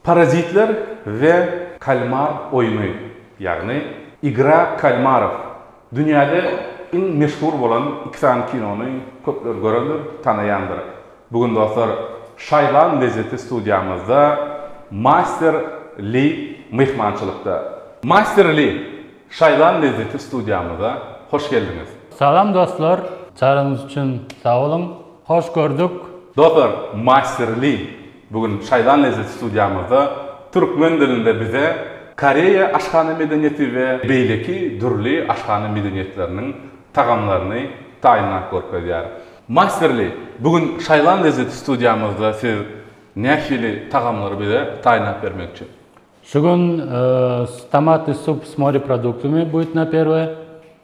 Parazitler we kalmar oýny, ýagny Igra kalmarov. Dünýäde iň meşhur bolan iki sany kinony köpler görendir, tanaýandyr. Bu gün dostlar, Şaýlan lezzeti studiýamyzda Master Li myhmançylykda. Master Li, Şaýlan lezzeti studiýamyza hoş geldiňiz. Salam dostlar, çagyryňyz üçin sag boluň. Hoş gördük. Dostlar, Master Li Bu gün Şaýdan Lezzet studiýamyzda türkmen dilinde bize Koreýa aşhana medeniýeti we beýleki dürli aşhana medeniýetleriniň tagamlaryny taýynlap görkezýär. Masterly, bu gün Şaýdan Lezzet studiýamyzda siz nähili tagamlary bize taýynlap bermekçi? Şu gün tomatly sup s moreproduktymy, butno perwoýe.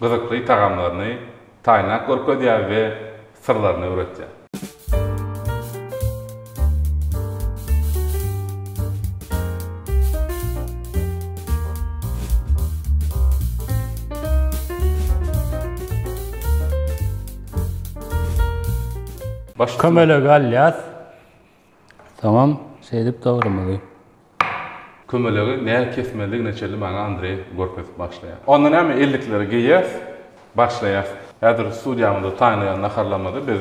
Gyzykly tagamlaryny taýynlap görkezýär we syrlaryny öwretýär. Kömelege alýas. Soňam şeýdip dogrymyzy. Kömelegi nä kesmelidigine çenli maňa Andreý görkezip başlaýar. Onda näme ellikleri geýýäs, başlaýas. Häzir studiýamyzda taýynlaýan naharlarymyzy biz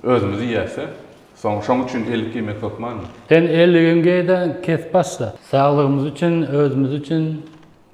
özümiz iýäs-de. Soň şoň üçin ellik geýmek hökmanmy? Sen elligiňi geý-de, kes başla. Saglygymyz üçin, özümiz üçin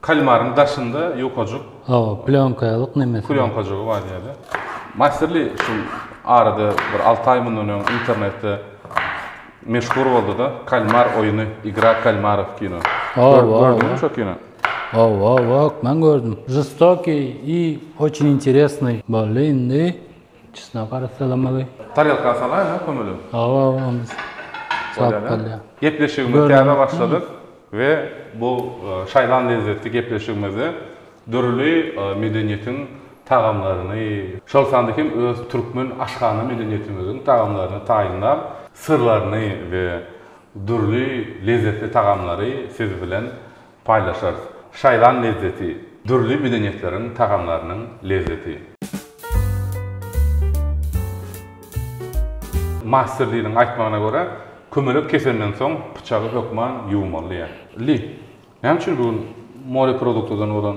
Kalmaryň daşynda ýukajyk. Hawa, plýonkalyk nemesi. Plýonkajygy bar diýýärler. Masterly şu arada bir alty aý mundan öň internetde meşhur boldy-da, Kalmar oýny, Igra kalmarov kino. Gördüňmi şo kino? Hawa, hökman gördüm. Žestokiý i oçin interesnyý boldy indi. Çysna gara salamagy. Tarelka salaýyň-a kömelem. Hawa, onda sap bolýa. Gepleşigimiz täze başladyk we bu şaýlan lezzetli gepleşigimizde dürli medeniýetiň tagamlaryny, şol sanda hem öz türkmen aşhana medeniýetimiziň tagamlaryny taýynlap, syrlaryny we dürli lezzetli tagamlary siz bilen Paýlaşarys şaýlan lezzeti. Dürli medeniýetleriň tagamlarynyň lezzeti. Masterliniň aýtmagyna görä, kömelek kesenden soň pyçagy hökman ýuwmalydyýar. Li, näme üçin bu gün moreproduktdan bolan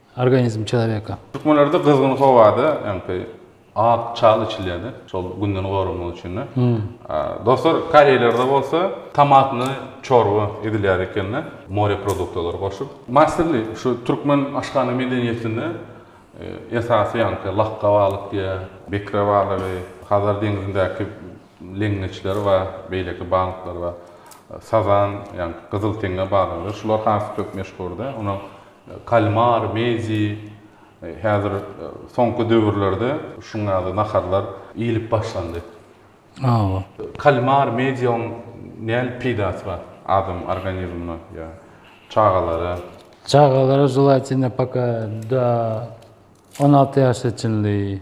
Organizm çelebeka. Türkmenlerde gyzgyn howada öňki ak çal içilýärdi, şol günden goranmak üçin. Dostlar, koreýlerde bolsa tomatny çorba edilýär ekeni, more produktalary goşup. Masterly, şu türkmen aşhana medeniýetinde esasy ýaňky lakga balyk diýä, bekre balygy, Hazar deňzindäki leňňeçler bar, beýleki balyklar bar. Sazan, ýaňky gyzyl teňňe balygy, şular has köp meşhurdy. Kalmar, mezi, häzir soňky döwürlerde şuň ýaly naharlar iýilip başlandy. Hawa. Kalmar, medioň näl peýdasy bar adam organizmine ýa çagalara? Çagalara želatina poka do on alty ýaşa çenli.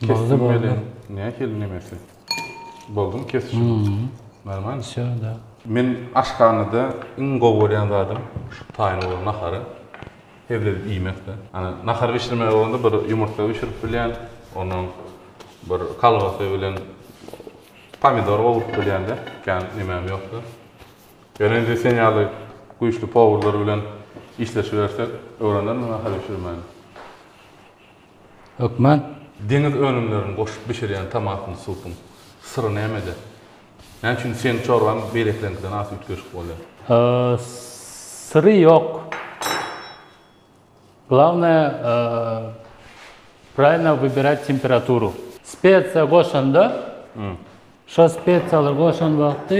Kesdim beli. Nähili nemesi? Boldumy kesişim? Normal. Şo da. Men aşhanada iň gowy görýän zadym şu taýyn bolan nahary hezledip iýmekde. Ana nahar bişirmeli bolanda bir ýumurtga bişirip bilýän, ondan bir kolbasa bilen pomidor gowrup bilýän-de, kän nemäm ýokdy. Ýöne indi sen ýaly güýçli powurlar bilen işleşibersek, öwrenermi nahar bişirmäni? Hökman. Deňiz önümlerini goşup bişirýän tomatly supuň syry nämede? Näme üçin seniň çorbaň beýlekileriňkiden has üýtgeşik bolýar? Syry ýok. Glawnaýe praýlno wybirać temperaturu. Spesiýa goşanda, şo spesiýalary goşan wagty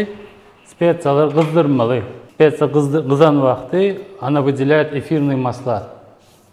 spesiýalary gyzdyrmaly. Spesiýa gyzan wagty ona wydilýaýat efirnyý masla.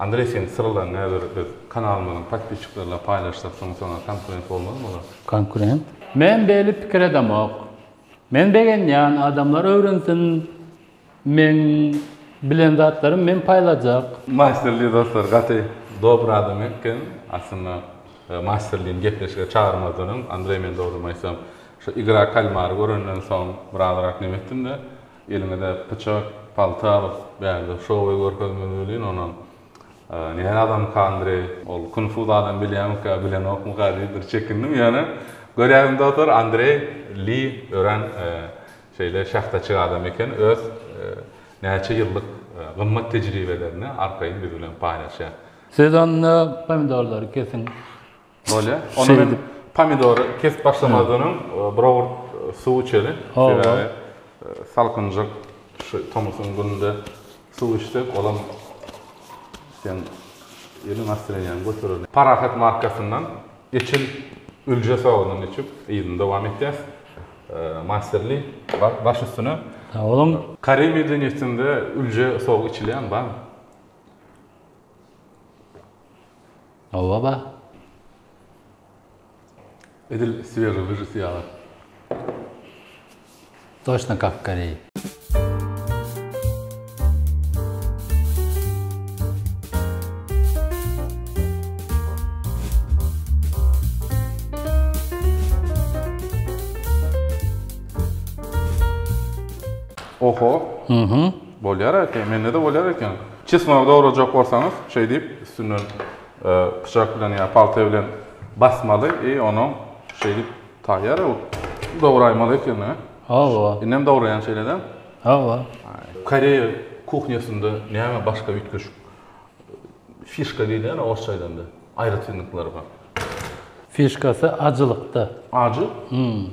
Andreý seň syrlaň näber biz kanalymyzyň podpisçiklerle paýlaşsak şoň saňa konkurent bolmazmy olar. Konkurent? Men beli pikir edemok. Men begenýän adamlar öwrensin meň bilen zatlarym men paýlajak. Masterly dostlar gaty dobry adam eken aslynda masterlyny gepleşige çagyrmazdan öň Andreý men dogrymy aýtsam şu igra kalmary görenden soň birazrak nemetdimde Eliňize pyçak, palta alyp, bärde şowy görkezmeli welin, onam Näme adamyka Andreý? Ol kung-fu zadam bilýärmikä, bilenokmyka diýip bir çekindim. Ýöne, görýärin dostlar, Andreý Li örän şeýle şähdaçyk adam eken, öz näçe ýyllyk gymmat tejribelerini arkaýyn biz bilen paýlaşýar. Siz onda pomidorlary kesiň. Bolýa. Onda men pomidory kesip başlamazdan öň bir owurt suw içeli. Sebäbi salkynjak şu tomusyň gününde suw içsek, olam sen ýyly nastreniýaňy göterer. Parahat markasyndan eçil ülje sogundan içip, yzyny dowam etýäs. Masterly baş üstüne. Sag boluň. Koreý medeniýetinde ülje sogy içilýärmi, barmy? Hawa ba. Edil Swery wirus ýaly. Toşna kapkary. Oho. Bolýar eken. Mende-de bolýar eken. Çysmagy dograjak bolsaňyz, şeý diýip, üstünden pyçak bilen ýa palta bilen basmaly i onuň şeý diýip taýýar bolup dograýmaly ekeni. Hawa. Indem dograýaň şeýle-de. Hawa. Koreýa kuhnýasynda näme başga üýtgeşik fişka diýilýär orsça aýdanda, aýratynlyklary bar? Fişkasy ajylykda. Ajy? Hum.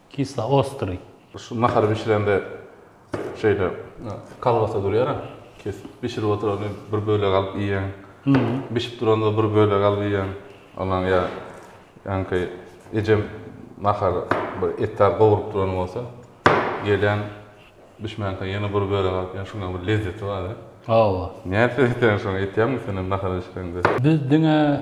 Kislo ostryý. Şu nahar bişirende şeýle kolbasa durýar-a, kesip bişirip oturany bir bölek alyp iýýäň. Bişip duranda bir bölek alyp iýýäň. Ondan ýa ýaňky ejem nahary bir et zat gowrup duran bolsa, gelýän bişmänkä ýene bir bölek alyp iýýän. Şunuňam bir lezzeti bar-a. Hawa. Nädip öýdýäň şony? Etýäňmi senem nahar bişireňde? Biz diňe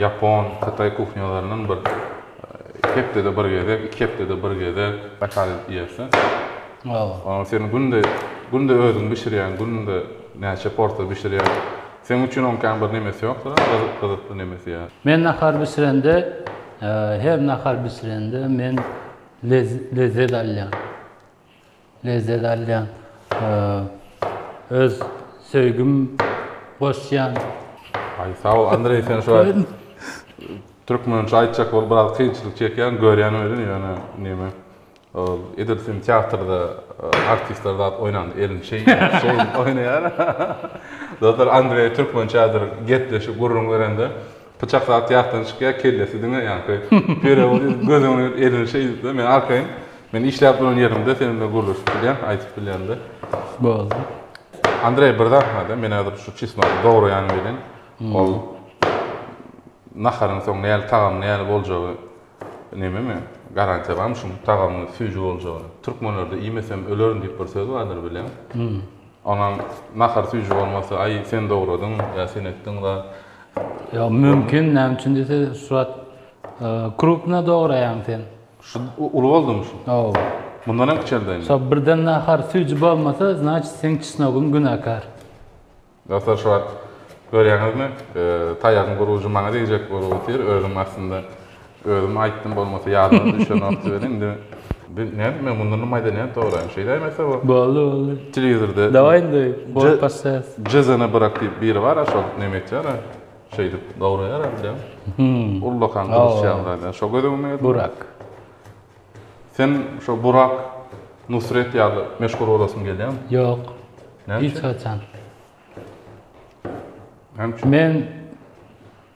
ýapon, hytaý kuhnýalaryndan bir hepdede bir gezek, iki hepdede bir gezek zakaz edip iýersiň. Olar seni günde, günde özüň bişirýän, günde näçe porsiýa bişirýän. Seň üçin onuň kän bir nemesi ýokdur, gyzykly nemesi ýa. Men nahar bişirende, her nahar bişirende men lezzet alýan. Lezzet alýan öz söýgim goşýan. Aý sagol Andreý sen şuwagt türkmençe aýtjak bolup biraz kynçylyk çekýäň görýän welin ýöne neme ol edil sen teatrda artistler zat oýnanda elini şeý şeý oýnaýar. Dostlar Andreý türkmençädir gepleşik gürrüň berende Pyçak zat ýatdan çykýar, kellesi diňe ýaňky Perewoz edip göz öňüne gelip elini şeýdipdir. Men arkaýyn, men işläp duran ýerimde sen bilen gürleşip bilýän, aýdyp bilýän-de. Boldy. Andreý bir zat bar-da, men häzir şu çesnogy dograýanym bilen ol naharyň soň näl tagamy näl boljagy nememi, garantiýa barmy şuň tagamyň süýji boljagyna? Türkmenlerde iýmesem ölerin diýip bir söz bardyr bileň. Onuň nahar süýji bolmasy, aý sen dogradyn ýa sen etdiň zat. Ýa mümkin näme üçin diýse şuwagt krupna dograýaň sen. Şu uly boldumy şu? Hawa. Mundan hem kiçeldi indi. Şo birden nahar süýji bolmasa, znaçit seň çesnogyň günäkär. Dostlar şu wagt görýäňizmi, taýagyň gurujy maňa degjek bolup otyr, özüm aslynda Özüm aýtdym bolmasa ýadyňa düşenokdy welin indi bir nädip men mundan maýda nädip dograýyn şeýdäým etse bu. Boldy boldy. Telewizorda. Daway indi bol passes. Jezene bırak diýip biri bara şol neme etýara şeýdip dograýara bilýän. Ullakan gylyç ýaly şo göz öňüme geldi. Burak. Sen şo Burak Nusret ýaly meşhur bolasyň gelýämi? Ýok. Näme üçin? Hiç haçan. Näme üçin? Men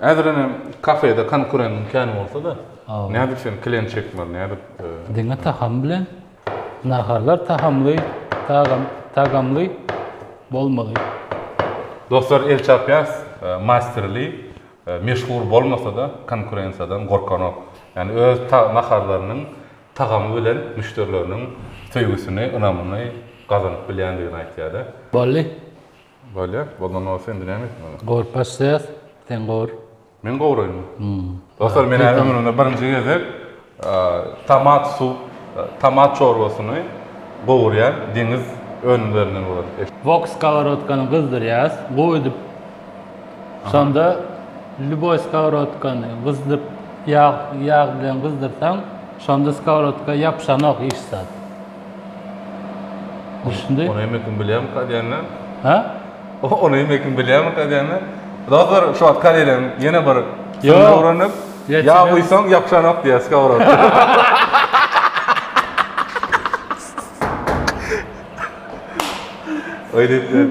Häzirem hem kafede konkurentiň kän bolsa-da, nädip sen klient çekmeli, nädip? Diňe tagam bilen. Naharlar tagamly, tagamly bolmaly. Dostlar, El Çapýas masterly meşhur bolmasa-da, konkurensiýadan gorkanok. Ýagny öz naharlarynyň tagamy bilen müşderileriniň söýgüsini, ynamyny gazanyp bilýändigini aýtýar-da. Bolly. Bolýar. Boldan bolsa indi näme etmeli? Gowur baş ses, sen gowur. Men gowuraýynmy? Hum. Dostlar, men häzir ömrümde birinji gezek tomat suw, tomat çorbasyny gowurýan deňiz önümlerinden görüp. Wok skoworotkany gyzdyrýas, guýdup. Şonda lýuboý skoworotkany gyzdyp, ýag, ýag bilen gyzdyrsaň, şonda skoworotka ýapyşanok hiç zat. Üstünde. Onu emekim bilýärmi ka diýende? Ha? Onu emekim bilýärmi ka diýende? Doktor şu wagt kalelen ýene bir sözüni öwrenip, ýa guýsaň ýapyşanok diýýär skorod. Öýdüp.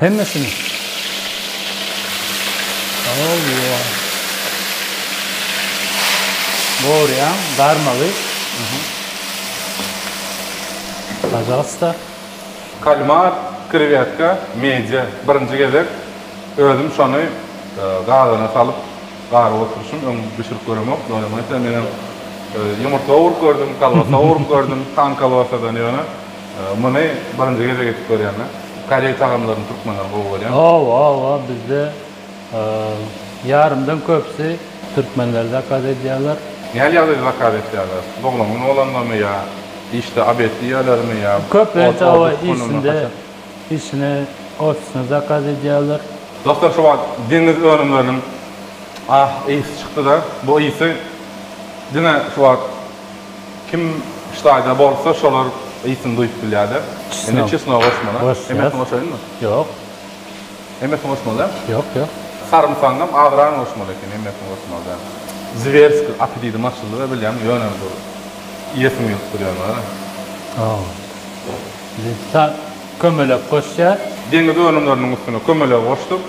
Hemmesini. Owo. Gorýan garmagy. Pajalsta. Kalmar, krewýetka, medýa. Birinji gezek özüm şony gazana salyp garyp oturyşym, öň bişirip göremok. Ýöne menem ýumurtga urup gördüm, kolbasa urup gördüm, tan kolbasadan ýöne. Muny birinji gezek edip görýäňmi? Koreý tagamlaryny türkmenler gowy görýär. Hawa hawa bizde ýarymdan köpüsi türkmenler zakaz edýärler. Näl ýagdaýda zakaz etýärler? Doglan gün bolanda-my ýa işde obed diýýärlermi ýa Köplenç hawa işinde işine ofisine zakaz edýärler. Dostlar şu wagt deňiz önümleriniň ah ysy çykdyda bu ysy diňe şu wagt Kim ştaýda bolsa şolar ysyny duýup bilýärler. Indi çesnogy goşmaly. Hemmesini goşaýynmy? Ýok. Hemmesini goşmaly däl? Ýok, ýok. Sarymsagyňam azyragyny goşmaly ekeni, hemmesini goşmaly däl. Zwerski apetitim açyldy we bilýän ýöne bir iýesim gelip dur ýaly bar. Hawa. Indi sag kömelek goşýas. Deňiz önümleriniň üstüne kömelegi goşduk.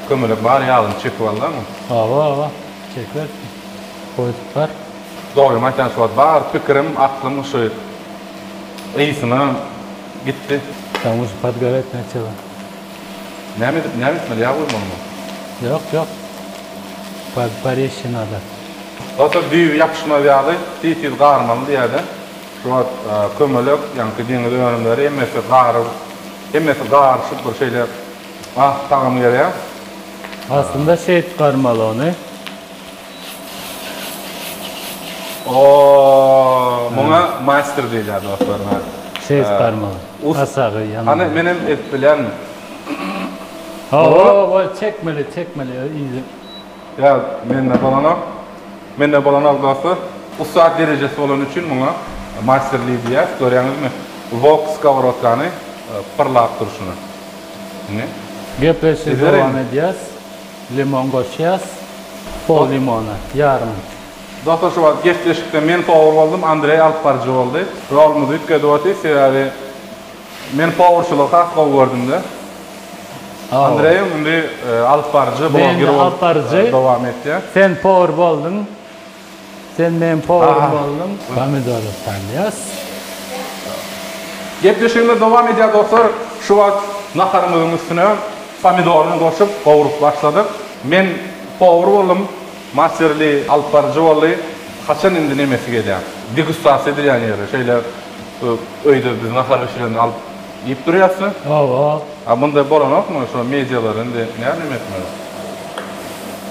Kömelek bar ýagyny çekip aldaňmy? Hawa, hawa. Çeker. goýduklar. Dogrymy aýtýan şu wagt bar pikirim aklym şu ysyna gitdi. Kamo şu podgorä etmek çyga. Näme edip näme etmeli ýag guýmalymy. Ýok ýok pod porezçi nada. Dostlar düýbi ýapyşmaz ýaly tiz tiz garmaly diýäde şu wagt kömelek ýaňky deňiz önümleri hemmesi garyp hemmesi garyşyp bir şeýle ah tagamy gelýä. Aslynda şeýdip garmaly ony Oooo muňa maýster diýilýär dostlar ine. Ses barmagy. Asagy ýaňy. Hany men hem edip bilýänmi? Howoo çekmeli çekmeli yzy. Ýa mende bolanok. Mende bolanok dostlar. Ussat derejesi bolany üçin muňa maýster li diýýäs. Görýäňizmi? Wok skoworotkany pyrlap durşuna. Ine. Gepleşigi dowam edýäs. Limon goşýas, pol limona, ýarym. Dostlar şu wagt gepleşikde men powur boldum Andreý alyp baryjy boldy. Rolumyz üýtgedi otdy sebäbi men powurçylygy has gowy gördümde. Andreýiň indi alyp baryjy, bloger bolup dowam etýär. Sen powur boldyň. Sen meň powarum bolduň. Pomidory salýas. Gepleşigimiz dowam edýär dostlar. Şu wagt naharymyzyň üstüne pomidoryny goşup gowrup başladyk. Men powar boldum. Masterly alyp baryjy boldy. Haçan indi nemesi gelýär? Degustasiýa edilýän ýeri. Şeýle öýde biz nahar bişirende alyp. Diýip durýas sen. Hawa. A munda bolanokmy şo medialar indi nädem etmeli.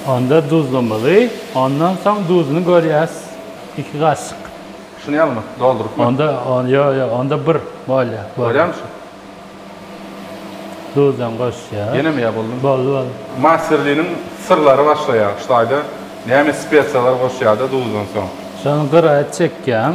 Onda duzlamaly, ondan soň duzuny görýäs iki gaşyk. Şuny ýalymy, doldurypmy? Onda ýo ýo onda bir bolýa. Görýämi şu. Duzam goşýas. Ýenemi ýa boldumy. Boldy boldy. Masterliniň syrlary başlaýar şu taýda näme spesiýalar goşýada duzdan soň. Şony gyra çekýäň.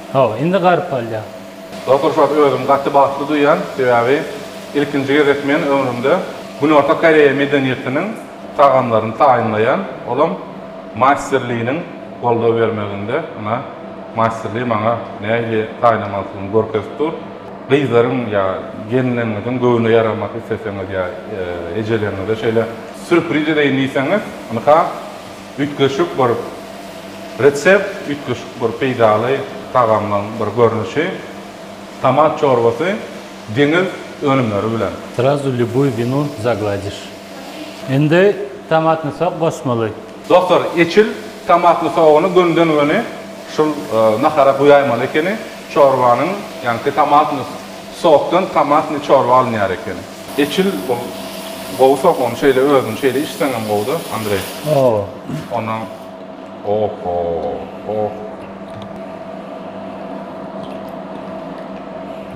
Hawa, indi garyp galýar. Doktor Şwart özümi gaty bagtly duýýan, sebäbi ilkinji gezek men ömrümde Günorta Koreýa medeniýetiniň tagamlaryny taýynlaýan, olam Master Liniň goldaw bermeginde, ynha Master Li maňa nähili taýynlamalydygyny görkezip dur. Gyzlaryň ýa gelinleriňiziň göwnüne ýaramak isleseňiz ýa ejeleriňize şeýle sýurpriz edeýin diýseňiz, ynha Üýtgeşik bir resept, üýtgeşik bir peýdaly tagamlaryň bir görnüşi, tomat çorbasy deňiz önümleri bilen. Srazu lýubuý winu zagladiş. Indi tomatny sok goşmaly. Dostlar, eçil tomatly sogyny gönden-göni şul nahara guýaýmaly ekeni, çorbanyň, ýagny tomatny Sokdan tomatny çorba alynýar eken. Eçil ol gowy sok ony şeýle özüni şeýle içseňem gowuda Andreý. Hawa. Ondan oho oh.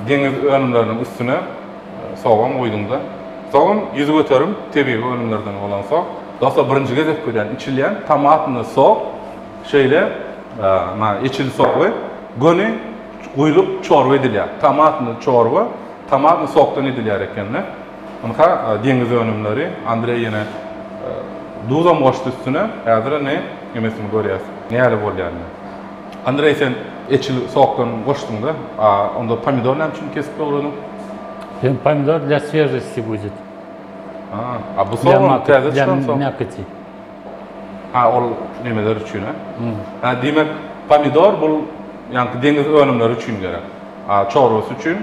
Deňiz önümleriniň üstüne sogam guýduňda. Sogam ýüzi göterim tebigy önümlerden bolan sok. Dostlar birinji gezek görýän içilýän tomatny sok şeýle na eçil sogy göni Guýlup çorba edilýär. Tomatny çorba, tomatny sokdan edilýär ekeni. Ynha, deňiz önümleri. Andreý ýene duzam goşdy üstüne. Häzir indi nemesini görýäs. Nähili bolýar indi. Andreý sen eçil sokdan goşduňda, a onda pomidor näme üçin kesip dogradyň? Sen pomidor dla swežosti budet. A bu sogan täze çykan sok. Ha ol nemeler üçin a? Ha diýmek pomidor bul ýaňky deňiz önümleri üçin gerek. A çorbasy üçin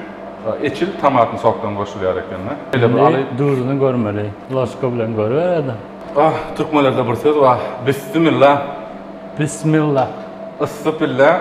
eçil tomatny sokdan goşulýar eken da. Şeýle bir aly. Indi duzuny görmeli. Lasga bilen görübereli. Ah türkmenlerde bir söz bar. Bissimilla. Bissimilla. Yssy pille.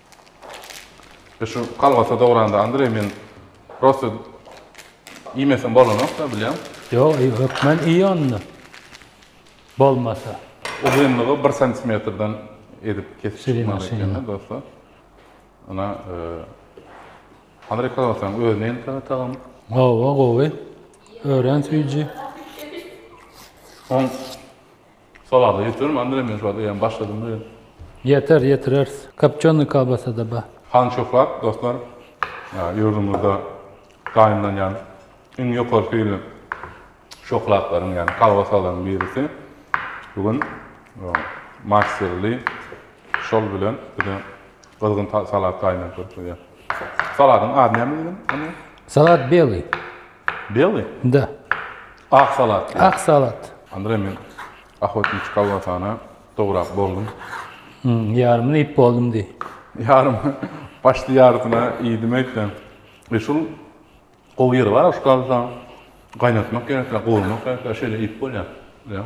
Biz şu kolbasa dogranda Andreý men prosta iýmesem bolanokda bilýäň. Ýok iý hökman iý onda bolmasa. Uzynlygy bir santimetrden edip kesip çykmaly ekeni dostlar. Ynha Andreý kolbasanyň özi nähili tagamy? Hawa gowy. Örän süýji. Oň Salada ýetirelim Andre men şu wagt eýýäm başladym diýen. Ýeter ýetireris. Kopçony kolbasada bar. Hany şöhrat dostlar ýurdumyzda taýynlanýan iň ýokary hilli şöhratlaryň ýagny kolbasalaryň birisi bu gün master li şol bilen bize gyzgyn salat taýynlap beripdir. Salatyň ady näme diýlen Andre? Salat beli. Belý? Da. Ak salat. Ak salat. Andre men ahotniçi kolbasana dograp boldum. Hum, ýarymyny iýip boldum diý. Ýarym, başda ýarysyna iýdim eýsem. E şul gowy ýeri bar-a şu kolbasanyň. Gaýnatmak gerek-le, gowurmak gerek-le, şeýle iýip bolýar. Ýa.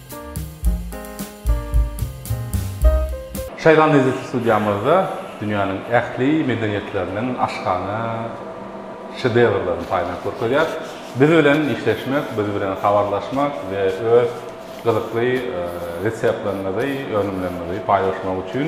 Şaýlan Eziz studiýamyzda dünýäniň ähli medeniýetleriniň aşhana şedevrlerini paýlanyp görkezýär. Biz bilen işleşmek, biz bilen habarlaşmak we öz gyzykly reseptleriňizi, önümleriňizi paýlaşmak üçin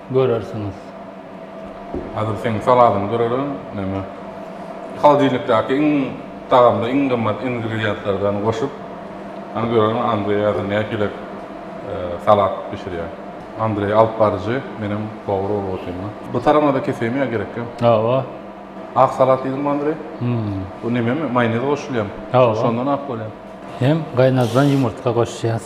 görersiňiz. Hazir seň saladyňy görerin neme holodilnikdaki iň tagamly iň gymmat ingredientlerden goşup hany görerin Andreý hazir nähili salat bişirýär. Andreý alyp baryjy menem powar bolup otyryn. Bu taramada keseýin ýa gerekgä? Hawa. Ak salat diýdiňmi Andreý? Hum. Bu nememi maýonez goşulýamy? Hawa. Şondan ak bolýamy? Hem gaýnadylan ýumurtga goşýas.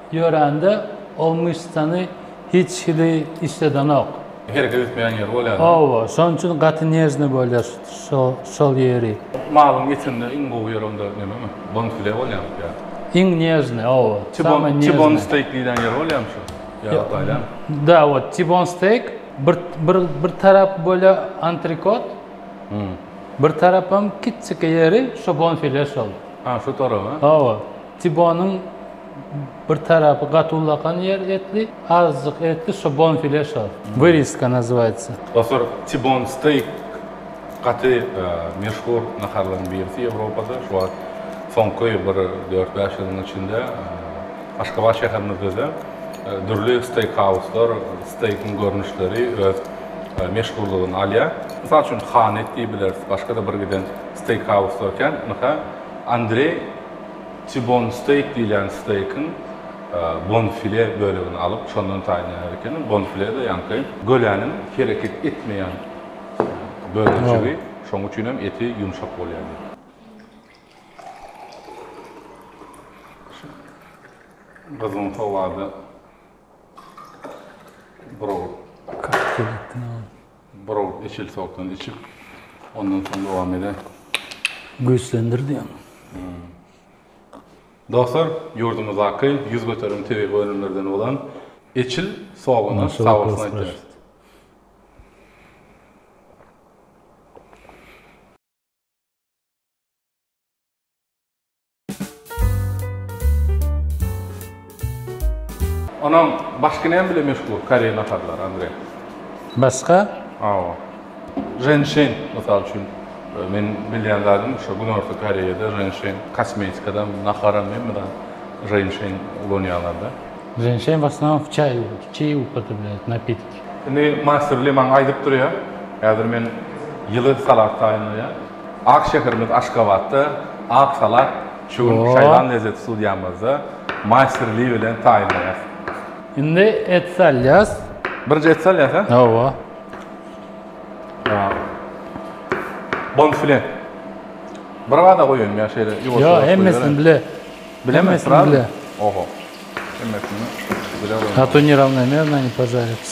Ýörände ol myşsany hiç hili işledenok. Hereket etmeýän ýeri bolýar. Hawa, şonuň üçin gaty nežnyý bolýar şol ýeri. Malyň etinde iň gowy ýeri onda nämemi? Bonfile bolýarmy ýa? Iň nežnyý, hawa. Samyý nežnyý. Tibon steýk diýlen ýeri bolýarmy şu? Ýa ýaly. Da, wot tibon steýk bir bir bir tarap bolýa antrikot. Bir tarapam kiçjiki ýeri şu bonfile şol. Ha, şu tarap, ha? Hawa. Tibonyň Bir tarapy gaty ullakan ýer etli, azjyk etli şo bonfile şo. Wyriska nazywaýtsa. Dostlar tibon steýk gaty meşhur naharlaryň birisi Ýewropada. Şu wagt soňky bir dört bäş ýylyň içinde Aşgabat şäherinizede dürli steýk hauslar steýkiň görnüşleri öz meşhurlygyny alýar. Mysal üçin Hanet diýibileris başga-da bir giden steýk hauslar kän. Ynha Andreý. T-bone steak diýilýän steikiň bonfile bölegini alyp, şondan taýynlaýar ekeniň. Bonfile-de ýaňky göläniň hereket etmeýän bölejigi, şoň üçin hem eti ýumşak bolýar. Gyzgyn howada buralyp. Browd içil sokdan içip, ondan soň dowam eden. Güýçlendir diýen. Dostlar, ýurdumyzdaky ýüz göteren tebigy önümlerden bolan içil soguna sag bolsun aýdýarys. Onam başga näme bilen meşgul koreý naharlary Andre? Başga? Awa. Renşen mysal üçin e, men bilýän zadym şu Günorta Koreýada renşen kosmetikada, naharam hemme zat renşen ulanýarlarda. Renşen başdan çaý, çaý upotrebляют, napitik. Indi master bile maňa aýdyp durýar. Häzir men ýyly salat taýynlaýar. Ak şäherimiz Aşgabatda Ak salat şu gün Şaýlan lezzet studiýamyzda maýster Li bilen taýynlaýas. Indi et salýas. Birinji et salýas a? Hawa. Bon file. Bir gada goýaýyn ýa şeýle ýuwaş ýuwaş goýaýyn. Ýa hemmesini bile. Bilemmi srazy? Oho. Hemmesini bile goýaýyn. A to nerawnomernony požarits.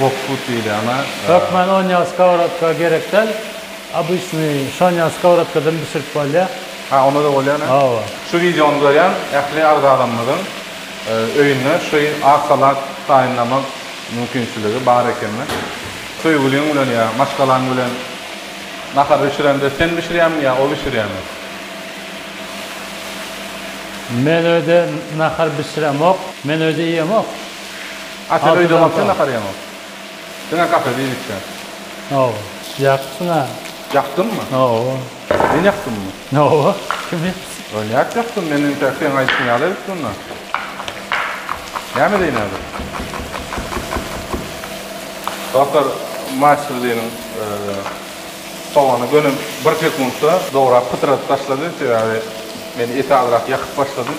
Wokfut diýilýäne. Hökman onýa skowrodka gerekdäl, obyçnyý şonýa skowrodkadan bişirip bolýa. Ha onda-da bolýan a. Hawa. Şu wideony görýän ähli agzalarymyzyň öýünde şu ak salat taýynlamak mümkinçiligi bar ekeni. Söýgüliň bilen ýa maşgalaň bilen nahar bişirende sen bişirýäňmi ýa o bişirýämi? Men öýde nahar bişiremok. Men öýde iýemok. A sen öýde bolsaň nahar ýeňok. Diňe kafede iýip içýäň. Hawa. Ýaksyň-a. Ýakdymmy? Hawa. Men ýakdymmy? Hawa. Kim ýakdy? Ol nädip ýakdym? Men entek seň aýdyşyň ýaly edip durna. Näme edeýin häzir? Dostlar, Maçliniň sogany göni bir sekuntda dograp pytradyp taşlady. Sebäbi men eti azrak ýakyp başladym.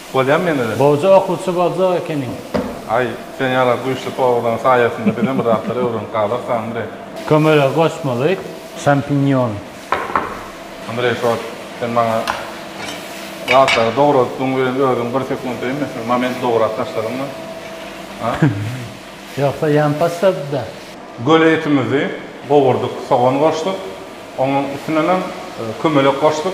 Bolýamy ýene de. Goja okuwçy boljak ekeniň. Aý, sen ýaly güýçli powurlaň saýasynda bizem bir zatlar öwrenip galarys Andreý. Kömele goşmaly şampinýon. Andreý sos, sen maňa zatlary dogradypdygyň bilen özüň bir sekunt deýin mesel moment dograp taşladyňmy? A? Ýogsa ýan taşlady-da. Göle etimizi gowurdyk, sogan goşduk, onuň üstünenem kömelek goşduk.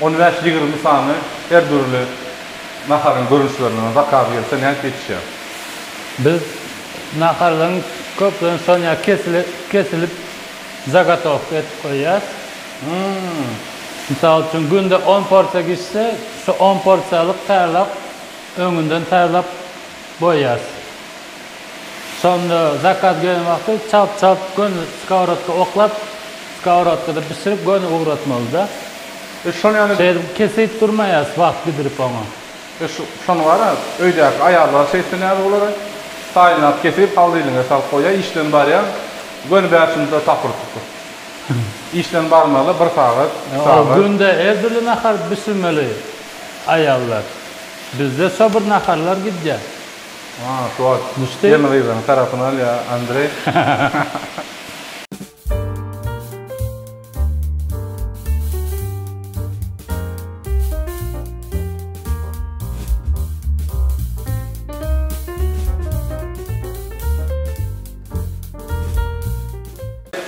On bäş, ýigrimi sany her dürli naharyň görnüşlerinden zakaz gelse nädip ýetişýär? Biz naharlaryň köplenç sanýa kesilip zagotowka edip goýýas. Mysal üçin günde on porsiýa gişse şu on porsiýalyk taýýarlap öňünden taýýarlap goýýas. Şonda zakaz gelen wagty çalt çalt göni skowrodka oklap, skowrodkada bişirip göni ugratmalyda. E şony ýaly. Şeýdip kesip durmaýas wagt gidirip oňa. E şony bara öýdäki aýallar şeýtse näme bolar e. Taýynlap kesip haldylyga salyp goýýa işden barýaň göni bäş minuta tapyryp tutup. Işden barmaly bir sagat, iki sagat. Ol günde her dürli nahar bişirmeli aýallar. Bizde şo bir naharlar gidýä.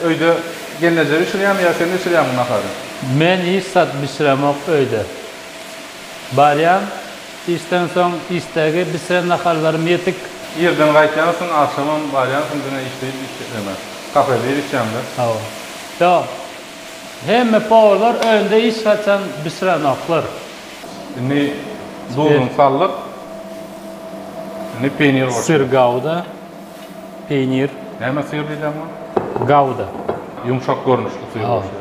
Öýde gelneje bişirýämi ýa sen bişirýämiň nahary? Men hiç zat bişiremok öýde. Barýan. Işden soň işdägi bişiren nahallarym ýetik. Irden gaýtýansyň, agşamam barýansyň diňe işleýip işlemä. Kafede ir içýäňdä? Hawa. Ýok. Hemme powarlar öýünde hiç haçan bişirenoklar. Indi duzuny saldyk. Indi peýnir goşýas. Syr gauda, peýnir. Näme syr diýýäň muňa? Gauda. Ýumşak görnüşli syr goşýas.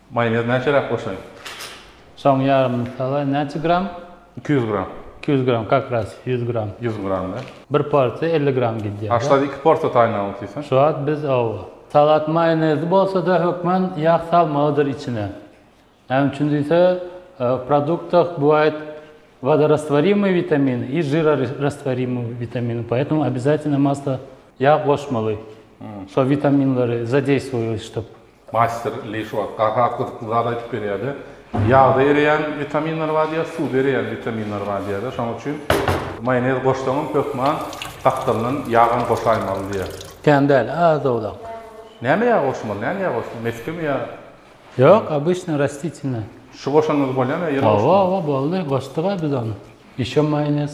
Maýonez näçeräk goşaýyn? Soň ýarymyny sala. Näçe gram? Iki ýüz gram. Iki ýüz gram, kak raz ýüz gram. Ýüz gram da. Bir porsiýa elli gram gidýär. Aşlar iki porsiýa taýyn alyp diýseň. Şu wagt biz hawa. Salat maýonezi bolsada hökman ýag salmalydyr içine. Näme üçin diýse, w produktah bywaýt wodorastwarimoý witamin i žirorastwarimoý witamin, poetemu obezatino masla ýag goşmaly. Şo witaminleri zadeýstwoýoştup. Maýster Li şu wagt has gyzykly zat aýdyp berýärdi. Ýagda ereýän witaminler bar diýýär, suwda ereýän witaminler bar diýýärler. Şonuň üçin maýonez goşsaňam hökman gapdalyndan ýagam goşaýmaly diýýär. Kän däl, az-owlak. Näme ýag goşmaly? Näni ýag goşmaly? Metkemi ýa? Ýok, obyçnyý rastitiýnä. Şu goşanyňyz bolýamy ýa ýene goşmaly? Hawa, hawa, boldy. Goşduk-a biz ony. Ýeşil maýonez.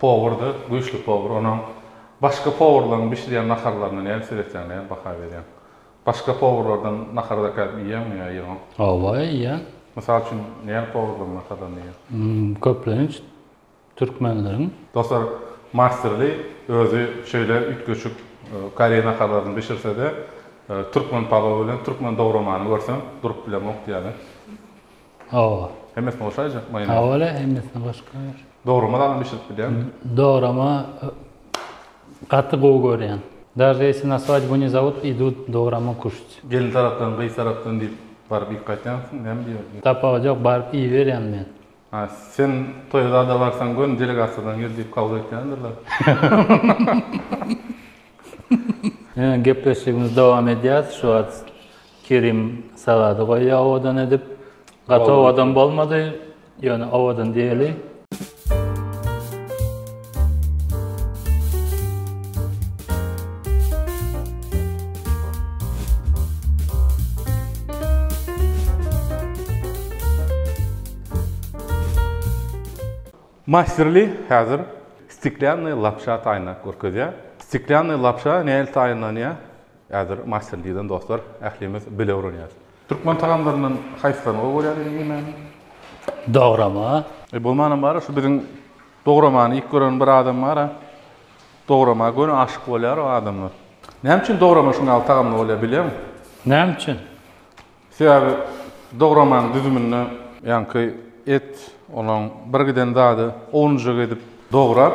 Powurdy, güýçli powur. Onuň başga powurlaryň bişirýän naharlaryna nädip seretýäň, nädip baha berýäň? Başga powurlardan nahar dakädip iýýäňmi ýa ýygyň? Hawa, iýýän. Mysal üçin, näme powurlaryň naharlaryny iýýäň? Köplenç, türkmenleriň. Dostlar, Masterly özi şeýle üýtgeşik koreý naharlaryny bişirse-de, türkmen palowy bilen türkmen dogramany görsem, durup bilemok ýaly. Hawa. Hemmesini goşaýjak maýonez. Hawa le hemmesini goşup goýar. Dograma dagy bişirip bilýäň. Dograma gaty gowy görýän. Daže ýesi naswat bu ne zawod idut dograma kuşt. Gelin tarapdan gyz tarapdan diýip baryp iýip gaýtýansyň näme diýip. Tapawut ýok baryp iýiberýän men. Ha sen toýa zada barsaň gön delegasiýadan gel diýip kabul etýändirler. Ýöne gepleşigimizi dowam edýäs şu wagt. Kerim sagady goýýa owadan edip. Gaty owadan bolmady, ýöne owadan diýeli. Masterly häzir stiklýannyý lapşa taýynlap görkezýär. Stiklýannyý lapşa nähili taýynlanýar? Häzir master diýlen dostlar ählimiz bile öwrenýäs. Türkmen tagamlaryndan haýsylaryny gowy görýäň öýde iýmäni? Dograma. Eý bolmanam bara şu biziň dogramany iýip gören bir adam bara dograma göni aşyk bolýar o adamlar. Näme üçin dograma şuň ýaly tagamly bolýar bilýäňmi? Näme üçin? Sebäbi dogramanyň düzüminde ýaňky et olaň bir giden zady owunjak edip dograp.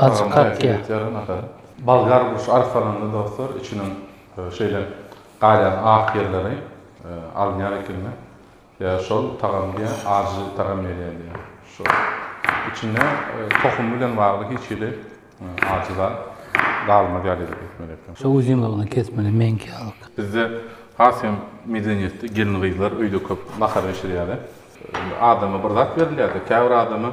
Azjyk kakýa. Bolgar burç arsalanda dostlar içiniň şeýle galýan ak ýerleri alynýar ekeni we şol tagamy diýýär, ajy tagam berýär diýýär. Şol içinde tohumy bilen bagly hiç hili ajy zat galmaz ýaly edip etmeli eken. Şo uzynlygyna kesmeli meňki ýalyk. Bizde has hem medeniýetde gelin-gyzlar öýde köp nahar bişirýärler. Adama bir zat berilýärdi. Käbir adama.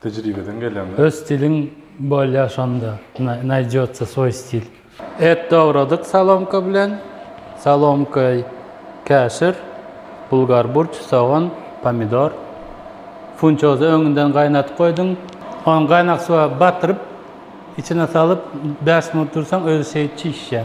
Tejribeden gelende. Öz stiliň bolýa şonda naýdýotsa swoý stil. Et dogradyk solomka bilen, solomka, käşir, bulgar burç, sogan, pomidor. Funçozy öňünden gaýnadyp goýduň. Ony gaýnak suwa batyryp, içine salyp bäş minut dursaň özi şeýit çişýär.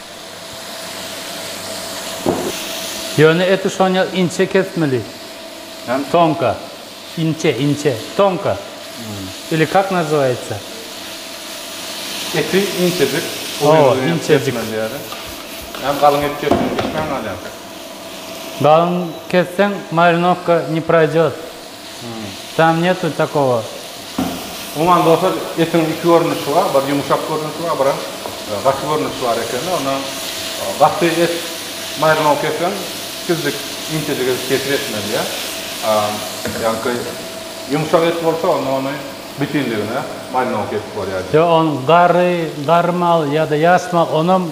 Ýöne eti şoňa inçe kesmeli. Hem tonka. Inçe, inçe. Tonka. Ili kak nazywaýatsa. Eti inçejik. Owa, inçejik. Hem galyň et kesmeli. Kesmäň galýaň. Galyň kesseň marinowka ne proýdýot. Tam netu takogo. Umuman dostlar etiň iki görnüşi bar, bir ýumşak görnüşi bar, bir hem gaty görnüşi bar ekeni. Onda gaty et maýrylmagy kesseň, tizlik intejik edip kesip etmeli ýa. Ýa-ki ýumşak et bolsa onda ony bütinligine maýrylmagy kesip bolýar. Ýa ony garry, garry mal ýa-da ýas mal onam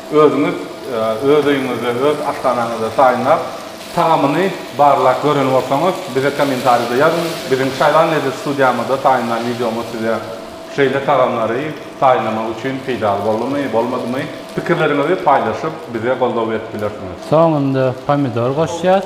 Özüňiz öz öýüňizde, öz aşhanaňyzda taýynlap, tagamyny barlap gören bolsaňyz, bize kommentariýada ýazyň. Biziň Çaýlan lezzet studiýamyzda taýynlan wideomyz size şeýle tagamlary taýynlamak üçin peýdaly boldumy, bolmadymy? Pikirleriňizi paýlaşyp, bize goldaw berip bilersiňiz. Soňunda pomidor goşýas.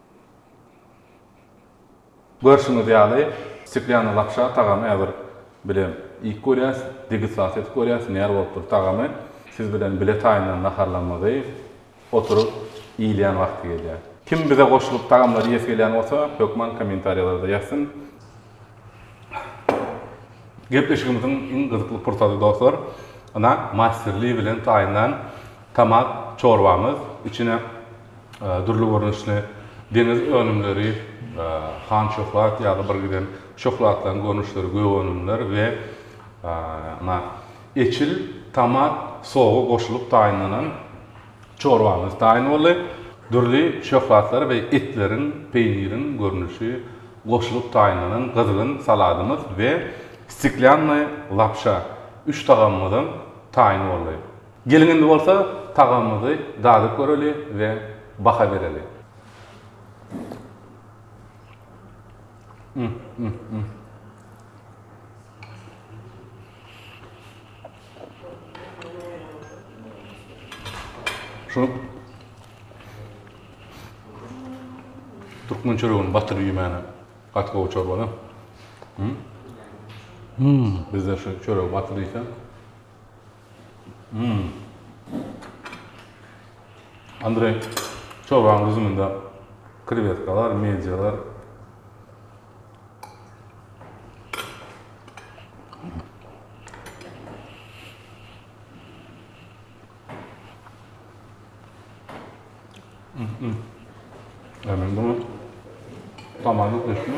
Görşüňiz ýaly, steklýanyny lapşa tagamy häzir bilen iýip görýäs, degustasiýa edip görýäs, nähili bolup dur tagamy. Siz bilen bile taýyndan naharlanmagy, oturyp iýilýän wagty gelýär. Kim bize goşulyp tagamlary iýesi gelýän bolsa, hökman kommentariýalarda ýazsyn. Gepleşigimiziň iň gyzykly pursady dostlar, ynha Masterly bilen taýyndan tamak çorbamyz, içine dürli görnüşli deňiz önümleri, han şöhlat ýaly bir giden şöhlatlaryň görnüşleri, gök önümler we na eçil, tomat sogy goşulyp taýynlanan çorbamyz taýyn boldy. Dürli şöhlatlar we etleriň, peýniriň görnüşi goşulyp taýynlanan gyzgyn saladymyz we stiklýannaý lapşa üç tagamymyzam taýyn boldy. Geliň indi bolsa tagamymyzy dadyp göreli we baha bereli. Şu Türkmen çöregini batyryp iýmäne gaty gowy çorbada. Bizde şu çöregi batyryp iýsem. Hum. Andreý, çorbanyň düzüminde krewetkalar, medýalar. Hum. Ämen bu. Tamam, ötdümi?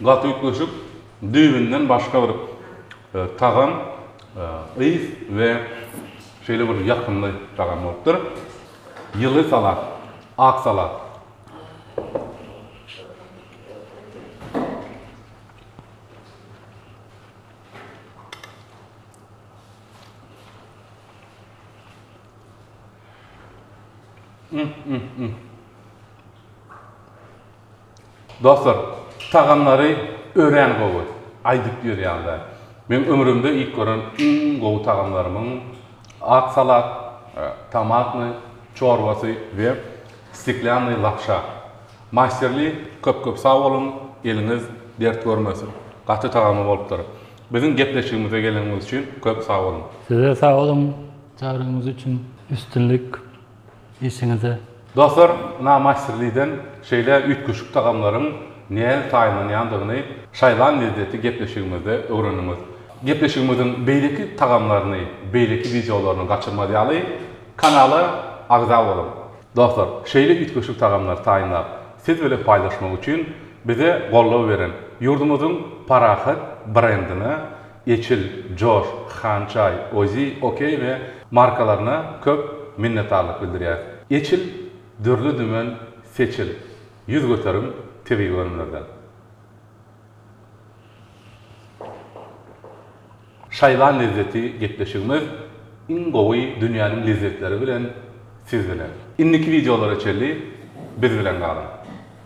Gaty üýtgeşik, düýbünden başga bir tagam, ys we şeýle bir ýakymly tagam bolupdyr. Ýyly salat, ak salat. Dostlar tagamlary örän gowy aýdyp ýörýänler. Meň ömrümde iýip gören iň gowy tagamlarymyň ak salat, tomatny çorbasy we steklýannyý lapşa. Masterly köp köp sag boluň eliňiz dert görmesin. Gaty tagamly bolupdyr. Biziň gepleşigimize geleniňiz üçin köp sag boluň. Size sag boluň çagyrygyňyz üçin üstünlik. Işiňizde. Dostlar, Na Master Liden şeýle üýtgeşik tagamlaryň nädip taýynlanýandygyny Şaýlan Lezzeti gepleşigimizde öwrendiňiz. Gepleşigimiziň beýleki tagamlaryny, beýleki wideolaryny gaçyrmaz ýaly, kanala agza boluň. Dostlar, şeýle üýtgeşik tagamlary taýynlap, siz bilen paýlaşmak üçin bize goldaw beren ýurdumyzyň Parahat brendine Eçil, Josh, Hançay, Ozi, Okey we markalaryna köp minnetdarlyk bildirýäs. Eçil, dürli-dümen seçil, ýüz göterim tebigy önümlerden. Şaýlan lezzeti gepleşigimiz iň gowy dünýäniň lezzetleri bilen siz bilen. Indiki wideolara çenli biz bilen galyň.